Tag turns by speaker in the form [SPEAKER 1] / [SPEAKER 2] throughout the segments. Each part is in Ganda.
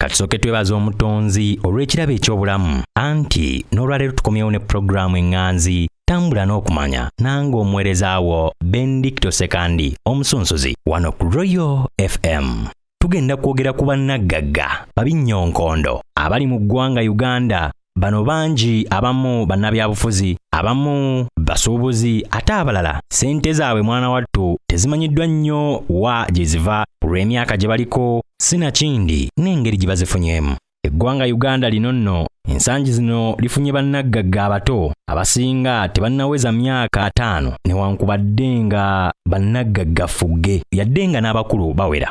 [SPEAKER 1] katusooke twebaza
[SPEAKER 2] omutonzi olw'ekirabo eky'obulamu anti n'olwaleero tukomyewo ne pulogulaamu eŋŋanzi tambula n'okumanya nange omuweereza wo bendikito sekandi omusunsuzi wano ku royal fm tugenda kwogera ku bannaggagga babinnyonkondo abali mu ggwanga uganda Bano bangi abamu bannabyabufuzi, abamu basuubuzi ate abalala ssente zaabwe mwana wattu tezimanyiddwa nnyo wa gye ziva ku lw'emyaka gye baliko sinakindi n'engeri gye bazifunyemu. Eggwanga Uganda lino nno ensangi zino lifunye bannaggagga abato abasinga tebannaweza myaka ataano newankubadde nga bannaggagga ffugge yadde nga n'abakulu bawera.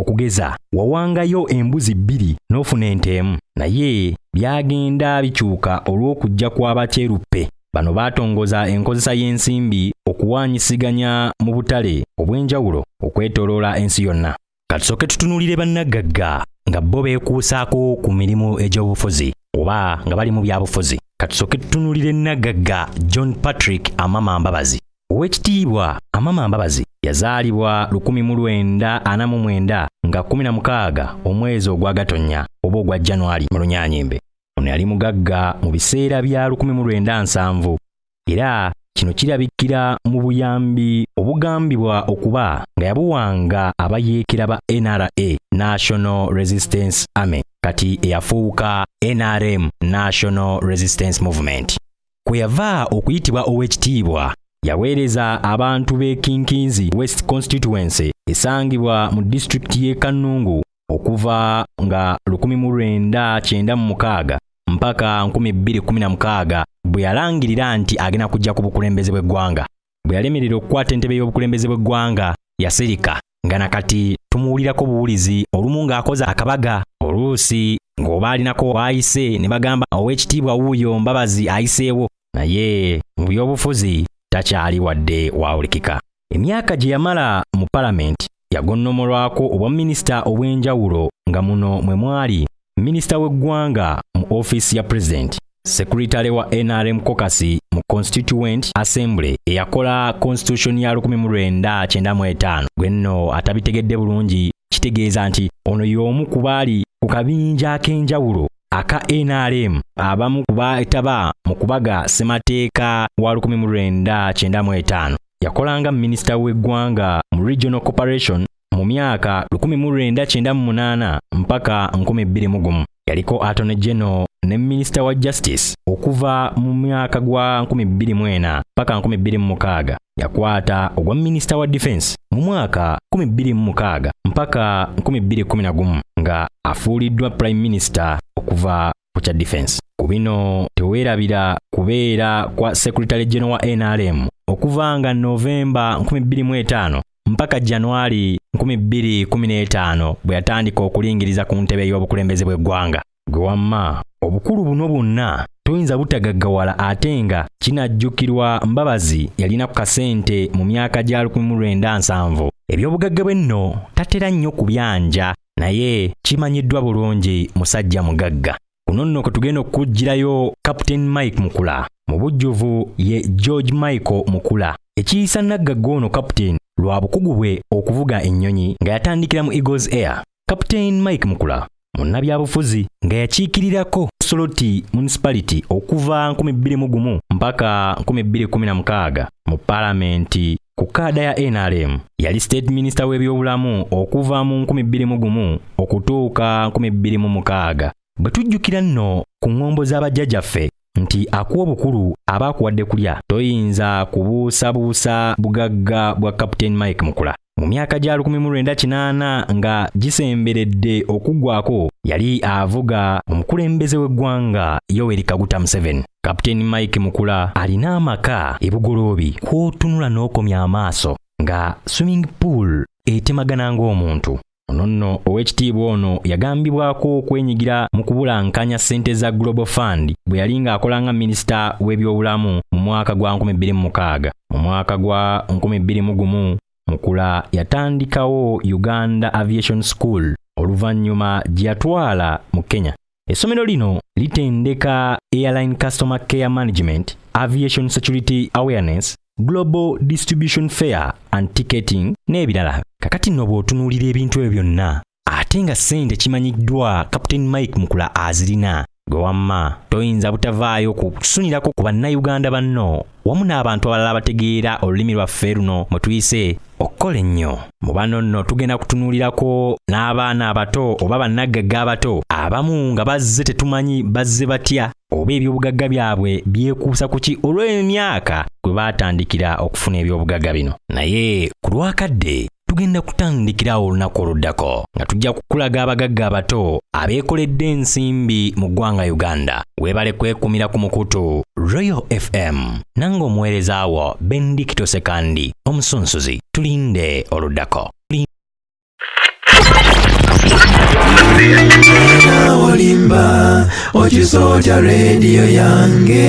[SPEAKER 2] okugeza wawangayo embuzi bbiri n'ofuna ente emu naye byagenda bikyuka olw'okujja kw'abakyeruppe bano baatongoza enkozesa y'ensimbi okuwaanyisiganya mu butale obw'enjawulo okwetoloola ensi yonna katusooke tutunulire bannaggagga nga bo beekuusaako ku mirimu egy'obufuzi oba nga bali mu byabufuzi katusooke tutunulire nnaggagga john patrick amama mbabazi Owekitiibwa Amama Mbabazi yazaalibwa lukumi mu lwenda ana mu mwenda nga kumi na mukaaga omwezi ogwa Gatonnya oba ogwa January mu Lunyanyimbe. Ono yali mugagga mu biseera bya lukumi mu lwenda nsanvu era kino kirabikira mu buyambi obugambibwa okuba nga yabuwanga abayeekera ba NRA National Resistance Army kati eyafuuka NRM National Resistance Movement. kwe yava okuyitibwa ow'ekitiibwa yaweereza abantu b'e kinkinzi west constituency esangibwa mu disitulikiti y'e kannungu okuva nga 1996 mpaka 2016 bwe yalangirira nti agenda kujja ku bukulembeze bw'eggwanga bwe yalemerera okukwata entebe y'obukulembeze bw'eggwanga yasirika nga na kati tumuwulirako buwulizi olumu ng'akoze akabaga oluusi ng'oba alinako waayise ne bagamba ow'ekitiibwa wuuyo mbabazi ayiseewo naye mu by'obufuzi takyali wadde waawulikika emyaka gye yamala mu palamenti yagonnomolwako obwaminisita obw'enjawulo nga muno mwe mwali minisita w'eggwanga mu ofiisi ya pulezidenti sekuritale wa nrm kokasi mu constituent assembly eyakola constitution ya 1995 gwe nno atabitegedde bulungi kitegeeza nti ono y'omu ku baali ku kabinja ak'enjawulo aka nrm abamu ku baetaba mu kubaga ssemateeka wa 1995 yakolanga minisita w'eggwanga mu regional corporation mu myaka 1998 mpaka 2001 yaliko atone general ne minisita wa justice okuva mu myaka gwa 2004 paka 2006 yakwata ogwa minisita wa defense mu mwaka 2006 mpaka 2011 nga afuuliddwa prime minister okuva ku kya defense ku bino teweerabira kubeera kwa secretary general wa nrm okuva nga novemba 25 mpaka januari 2015 bwe yatandika okulingiriza ku ntebe y'obukulembeze bw'eggwanga gwe wamma obukulu buno bwonna toyinza butagaggawala ate nga kinajjukirwa mbabazi yalina ku kasente mu myaka gya 1970 ebyobugagga bwe nno tatera nnyo kubyanja naye kimanyiddwa bulungi musajja mugagga kuno nno kwe tugenda okukuggyirayo captain mike mukula mu bujjuvu ye george michael mukula ekiyisa naggagga ono captain lwa bukugu bwe okuvuga ennyonyi nga yatandikira mu eagles air captain mike mukula munnabyabufuzi nga yakiikirirako soloti municipality okuva 2 1 mpaka 216 mu palamenti ku kaada ya nrm yali state minisita w'ebyobulamu okuva mu 21 okutuuka 26 bwe tujjukira nno ku ŋŋombo z'abajjajaffe nti akuwa obukulu aba akuwadde kulya toyinza kubuusabuusa bugagga bwa captain mike mukula mu myaka gya 1980 nga gisemberedde okuggwako yali avuga omukulembeze w'eggwanga yoweri kaguta museveni Kapiteeni Mike Mukula alina amaka e Bugoloobi kw'otunula n'okomya amaaso nga swimming pool etemagana ng'omuntu. Ono nno ow'ekitiibwa ono yagambibwako okwenyigira mu kubulankanya ssente za Global Fund bwe yali ng'akola nga minisita w'ebyobulamu mu mwaka gwa 2006. Mu mwaka gwa 2001 Mukula yatandikawo Uganda Aviation School oluvannyuma gye yatwala mu Kenya. Essomero lino litendeka Airline Customer Care Management, Aviation Security Awareness, Global Distribution Fair and Ticketing n'ebirala. Kakati nno bw'otunuulira ebintu ebyo byonna ate nga ssente kimanyiddwa Captain Mike Mukula azirina gwe wamma toyinza butavaayo kusunirako ku bannayuganda banno wamu n'abantu abalala abategeera olulimi lwaffe luno mwe tuyise okukola ennyo mu bano nno tugenda kutunuulirako n'abaana abato oba bannaggagga abato abamu nga bazze tetumanyi bazze batya oba ebyobugagga byabwe byekuusa ku ki olw'emyaka gwe baatandikira okufuna ebyobugagga bino naye ku lwakadde tugenda kutandikirawo olunaku oluddako nga tujja kukulaga abagagga abato abeekoledde ensimbi mu ggwanga uganda weebale kwekumira ku mukutu royal fm nange omuweereza wo bendikito sekandi omusunsuzi tulinde oluddako
[SPEAKER 3] olimba okisoja rediyo yange